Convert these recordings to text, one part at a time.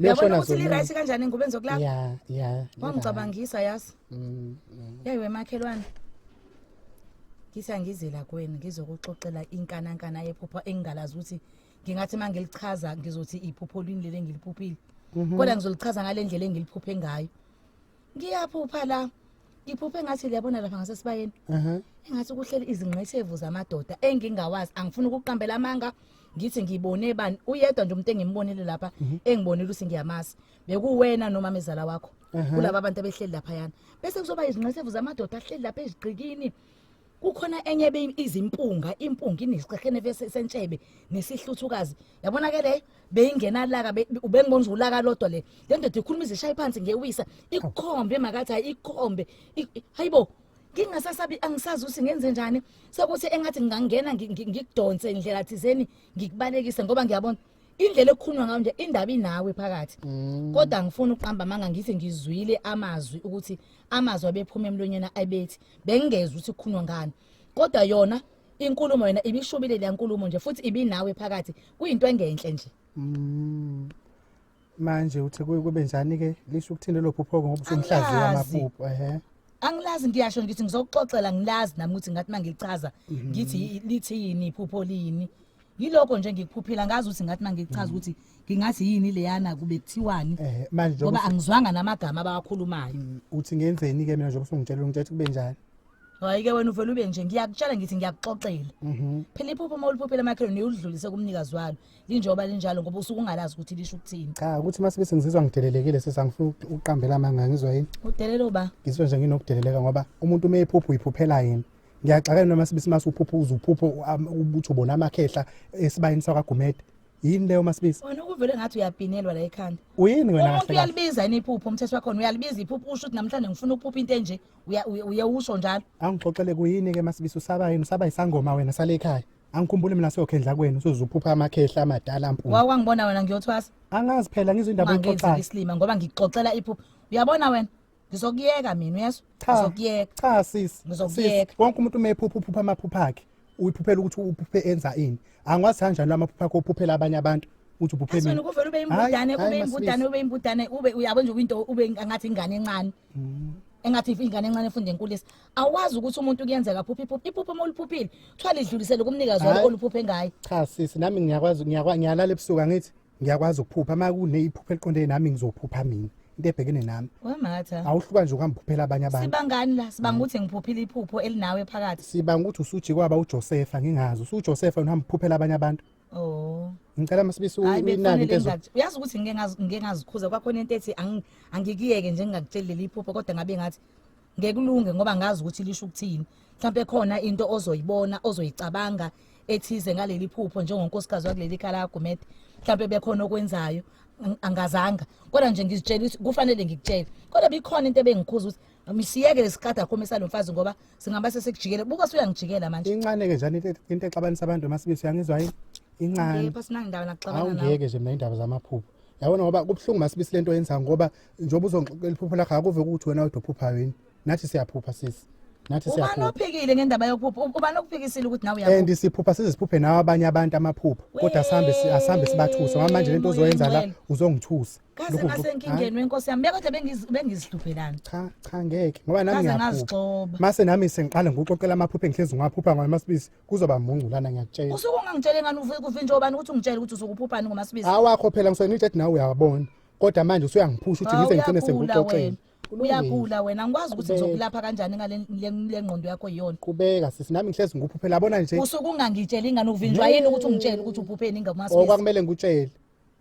Uyabona ukuthi li-right kanjani ngube ngizokulapha ya ya wangicabangisa yazi mm, mm. yeyi wemakhelwane ngithi angizela kweni ngizokuxoxela inkanankana yephupho engingalazi ukuthi ngingathi uma ngilichaza ngizothi iphupho lini leli engiliphuphile mhm. kodwa ngizolichaza ngale ndlela engiliphuphe ngayo ngiyaphupha la iphuphe engathi liyabona lapha ngasesibayeni Mhm. engathi kuhleli izingqethevu zamadoda engingawazi angifuni ukuqambela amanga ngithi ngibone bani uyedwa nje umuntu engimbonile lapha engibonile ukuthi ngiyamazi bekuwena noma mezala wakho kulaba abantu abehleli laphayana bese kuzoba izingqethevu zamadoda ahleli lapha ezigqikini kukhona enye ebe izimpunga impunga inesixekhene vese sentshebe nesihluthukazi yabona ke le beyingena laka ubengibona ukuthi ulaka lodwa le le ndoda ikhuluma izishaye phansi ngewisa ikukhombe makathi hayi ikukhombe hayibo ngingasasabi angisazi ukuthi ngenze njani sekuthi engathi ngingangena ngikudonse indlela thizeni ngikubalekise ngoba ngiyabona indlela ekukhulunywa ngayo nje indaba inawe phakathi mm. kodwa ngifuna ukuqamba amanga ngithi ngizwile amazwi ukuthi amazwi abephuma emlonyeni abethi bengingezwe ukuthi kukhulunywa ngani kodwa yona inkulumo yona ibishubile le nkulumo nje futhi ibinawe phakathi kuyinto engenhle nje mm. manje uthe kube njani ke lisho ukuthini lelo phupho ngobusumhlazi wamaphupho ehe angilazi ngiyasho ngithi ngizokuxoxela ngilazi nami ukuthi ngathi mangichaza mhm. ngithi lithini iphupho lini yilokho nje ngikuphuphila ngazi ukuthi ngathi nangichaza ukuthi ngingathi yini leyana kube kuthiwani Eh, manje njengoba ngoba angizwanga namagama abawakhulumayo Mm, uthi ngenzeni ke mina njengoba usungitshela ngitshela ukuthi kube njani hhayi-ke wena uvele ube nje ngiyakutshela ngithi ngiyakuxoxela Mhm. phela iphupho uma uliphuphela emakhelweni uyulidlulise kumnikazi walo linjengoba linjalo ngoba usuke ungalazi ukuthi lisho ukuthini cha ukuthi uma sibe sengizizwa ngidelelekile sesa ngifuna uku- ukuqambela amanga ngizwa yini udelelo ba ngizwe nje nginokudeleleka ngoba umuntu uma ephupha uyiphuphela yini ngiyaxakana noma sibisi mase uphupha uze uphuphe ukuthi ubona amakhehla esibayeni sakagumede yini leyo masibisi wena ukuvele ngathi uyabhinelwa la ekhanda uyini wena umuntu uyalibiza yini iphupho umthetho wakho uyalibiza iphupho usho ukuthi namhlanje ngifuna ukuphupha into enje uye usho njalo angixoxele kuyini ke masibisi usaba yini usaba isangoma wena sale ekhaya angikhumbuli mina sokhendla kwenu sozuphupha amakhehla amadala mpunga wawangibona wena ngiyothwasa angazi phela ngizwe indaba exoxayo islima ngoba ngixoxela iphupho uyabona wena ngizokuyeka mina uyezwa Cha. ngizokuyeka cha sisi Ngizokuyeka. Sisi, wonke umuntu uma ephupha uphupha amaphupha akhe uyiphuphela ukuthi uphuphe enza ini angikwazi kanjalo amaphupha akho uphuphela abanye abantu ukuthi uphuphe asona mina kuvele ube imbudane Hhayi, ube hhayi, imbudane masibisi. ube imbudane ube uyabo nje kwinto ube ngathi ingane encane Mm. engathi ingane encane efunde enkulisa awazi ukuthi umuntu kuyenzeka phupha iphupha iphupha uma uliphuphile kuthiwa lidlulisele kumnikazi walo Hhayi. oluphuphe ngayo cha sisi nami ngiyakwazi ngiyakwa- ngiyalala ebusuku angithi ngiyakwazi ukuphupha uma kuneyiphupha eliqondene nami ngizophupha mina into ebhekene nami wematha awuhluka nje ukuhamba uphuphela abanye abantu sibangani la sibanga ukuthi ngiphuphile iphupho elinawe phakathi sibanga ukuthi usuji kwaba uJosefa ngingazi usuJosefa uhamba uphuphela abanye abantu oh ngicela masibisi inani into uyazi ukuthi ngeke ngazikhuza kwakhona into ethi angikiyeke nje ngingakutsheli leli iphupho kodwa ngabe ngathi ngekulunge ngoba ngazi ukuthi lisho ukuthini mhlawumbe khona into ozoyibona ozoyicabanga ethize ngaleli phupho njengonkosikazi wakuleli khaya lakaGumede mhlawumbe bekhona okwenzayo angazanga kodwa nje ngizitshela ukuthi kufanele ngikutshele kodwa bikhona into ebengikhuza ukuthi misiyeke lesikade akhome salomfazi ngoba singaba sesekujikele buka suyangijikela manje incane ke njani into exabanisa abantu masibisi yangizwa yini incane ngeke sinangindaba nakuxabana nawe ngeke nje mina indaba zamaphupho yabona ngoba kubuhlungu masibisi lento yenza ngoba njengoba uzongixoxela iphupho lakho akuve ukuthi wena kodwa uphuphayo yini nathi siyaphupha sisi nathi ubani siyaphupha ophikile ngendaba yokuphupha U- ubani okuphikisile ukuthi nawe uyaphupha and siphupha size siphuphe nawe abanye abantu amaphupho kodwa sihambe si- asihambe sibathuse ngoba manje lento uzoyenza la Wena. uzongithusa kaze Lokhu- ngasenkingeni wenkosi yami bekodwa bengiz- bengizihluphelani cha cha ngeke ngoba nami Kaze ngiyaphuka ngazigxoba. mase nami sengiqala ngikuxoxela amaphupho engihlezi ngiwaphupha ngoba masibisi kuzoba mungculana ngiyakutshela usuke ungangitshele ngani uvuke kuvinje obani ukuthi ungitshele ukuthi usuke uphuphani ngomasibizi awakho phela ngisona ithi nawe uyabona kodwa manje usuyangiphusha uthi ngize ngigcine sengikuxoxela uyagula wena ngikwazi ukuthi ngizokulapha kanjani ngale ngqondo yakho yiyona kubeka sisi nami ngihlezi ngikuphuphela yabona nje usuke ungangitsheli ingane uvinjwa yini ukuthi ungitshele ukuthi uphupheni ngomasibizi okwakumele ngikutshele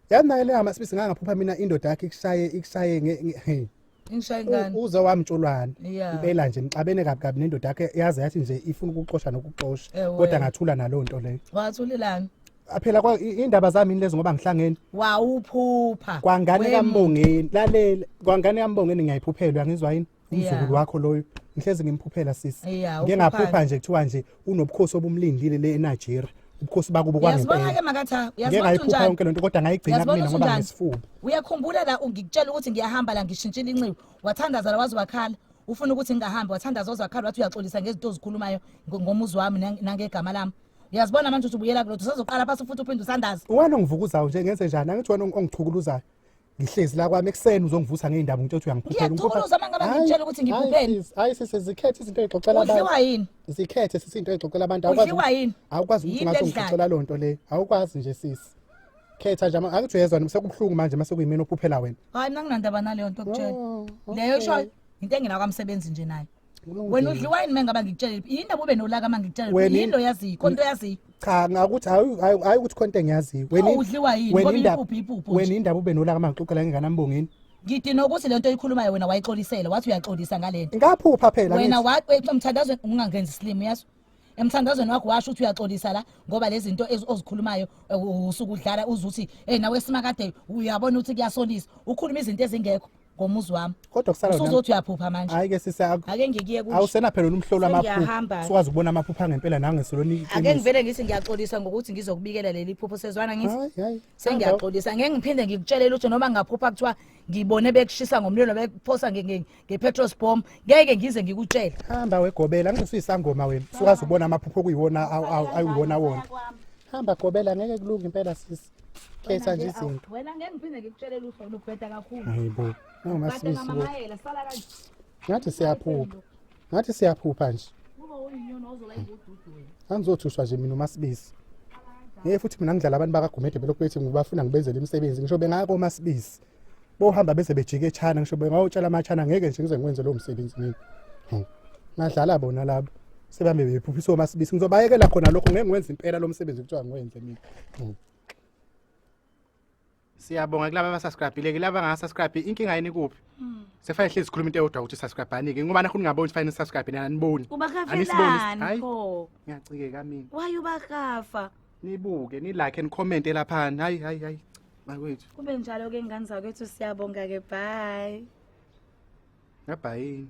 yazi naye leyo amasibisi ngangaphupha mina indoda yakhe ikushaye ikushaye nge- nge- hey. Ingishaye U- ngani? uze wamtshulwana Yeah. impela nje nixabene kabi kabi nendoda yakhe yaze yathi nje ifuna ukuxosha nokuxosha Ewe. kodwa ngathula naloo nto leyo Wathulelani? aphela kwa- i- indaba zami yini lezo ngoba ngihlangene Wawuphupha. kwangane Wem- kambongeni lalela kwangane kambongeni ngiyayiphuphelwa ngizwa yini umzukulu wakho loyo ngihlezi ngimphuphela sisi Yeah, ngike ngaphuphani. ngaphupha nje kuthiwa nje unobukhosi obumlindile le eNigeria ubukhosi bakubo Uyazibona ke kwangempela makatha, ngike uyazibona ngayiphupha unjani? yonke lento kodwa ngayigcina Uyazibona kumina ukuthi ngoba unjani? ngesifuba Uyakhumbula la ngikutshela ukuthi ngiyahamba la ngishintshile inxiwa. Wathandaza la waze wakhala. Ufuna ukuthi ngingahambi wathandaza waze wakhala wathi uyaxolisa ngezinto ozikhulumayo ngo- ngomuzi wami nang- nangegama lami. Uyazibona manje ukuthi ubuyela kulotho usazoqala phansi futhi uphinde usandaze. wena ongivukuzayo nje ngenze njani angithi wena ongichukuluzayo ngihlezi la kwami ekuseni uzongivutha ngeindaba ngitshela ukuthi uyangiphuphela ngiyathukuluza uma ngabe ngitshela ukuthi ngikuphuphele hayi sisi zikhethe izinto ezixoxela abantu udliwa yini zikhethe sisi into ezixoxela abantu awukwazi udliwa yini awukwazi ukuthi ngathi ngixoxela loo nto leyo awukwazi nje sisi khetha nje akuthi uyezwa noma sekubuhlungu manje mase kuyimina ophuphela wena hayi mina nginandaba naleyo nto okutshela oh, leyo isho into engena kwamsebenzi nje nayo wena udliwa yini mengaba ngikutshele yindaba ube nolaka uma ngikutshele Wena- yini oyaziyo konto oyaziyo cha ngakuthi hayi hayi- hayi ukuthi konto engiyaziyo Wena- Awu, udliwa yini? wena Ngoba indaba- iyipuphu, iyipuphu nje. wena indaba ube nolaka uma ngixoxela ngengane ambongeni ngidina ukuthi le nto oyikhulumayo wena wayixolisela wathi uyaxolisa ngale nto ngaphupha phela wena ngithi. wa- we- emthandazweni ungangenzi silimu yaso emthandazweni wakho washo ukuthi uyaxolisa la ngoba lezi zinto ezi- ozikhulumayo eh, u- usuke udlala uze uthi ey nawe simakade uyabona ukuthi kuyasolisa ukhuluma izinto ezingekho ngomuzi wami kodwa kusala wena usuzothi uyaphupha manje hayi ke sisi akho ake ngikiye kuthi awusena phela umhlolo amaphupha sikwazi ukubona amaphupha ngempela nange soloni ake ngivele ngithi ngiyaxolisa ngokuthi ngizokubikela leli phupho sezwana ngithi sengiyaxolisa ngeke ngiphinde ngikutshelele ukuthi noma ngaphupha kuthiwa ngibone bekushisa ngomlilo bekuphosa nge-petrol bomb ngeke ngize ngikutshele hamba wegobela ngisuyisangoma wena sikwazi ukubona amaphupho okuyiwona ayiwona wona hamba gobela ngeke kulunge impela sisi khetha nje izinto wena ngeke ngiphinde ngikutshelele uhlolo ubheda kakhulu hayibo nangamasibisi bo ngathi siyaphupha ngathi siyaphupha nje angizothuswa nje mina umasibisi ngeke futhi mina ngidlala abantu bakagumede belokhu bethi ngibafuna ngibenzele imisebenzi ngisho bengako umasibisi bohamba bese bejika eChina ngisho bengawutshala amaChina ngeke nje ngize ngikwenze lowo msebenzi mina hmm. ngadlala bona labo sebambe bephuphisa omasibisi ngizobayekela khona lokho ngeke ngikwenze impela lo msebenzi kuthiwa ngiwenze mina hmm. siyabonga kulaba abasubscribile kulaba angasubscribe inkinga yini kuphi hmm. sefanele hlezi sikhuluma into eyodwa ukuthi subscribe-ani-ke ngoba nakho ningaboni ukuthi fanele nisubscribe nani aniboni ubakafelani pho ngiyacikeka mina why ubakafa nibuke nilike and comment elaphani hayi hayi hayi bakwethu kube njalo ke ngane zakwethu siyabonga ke bye ngabhayini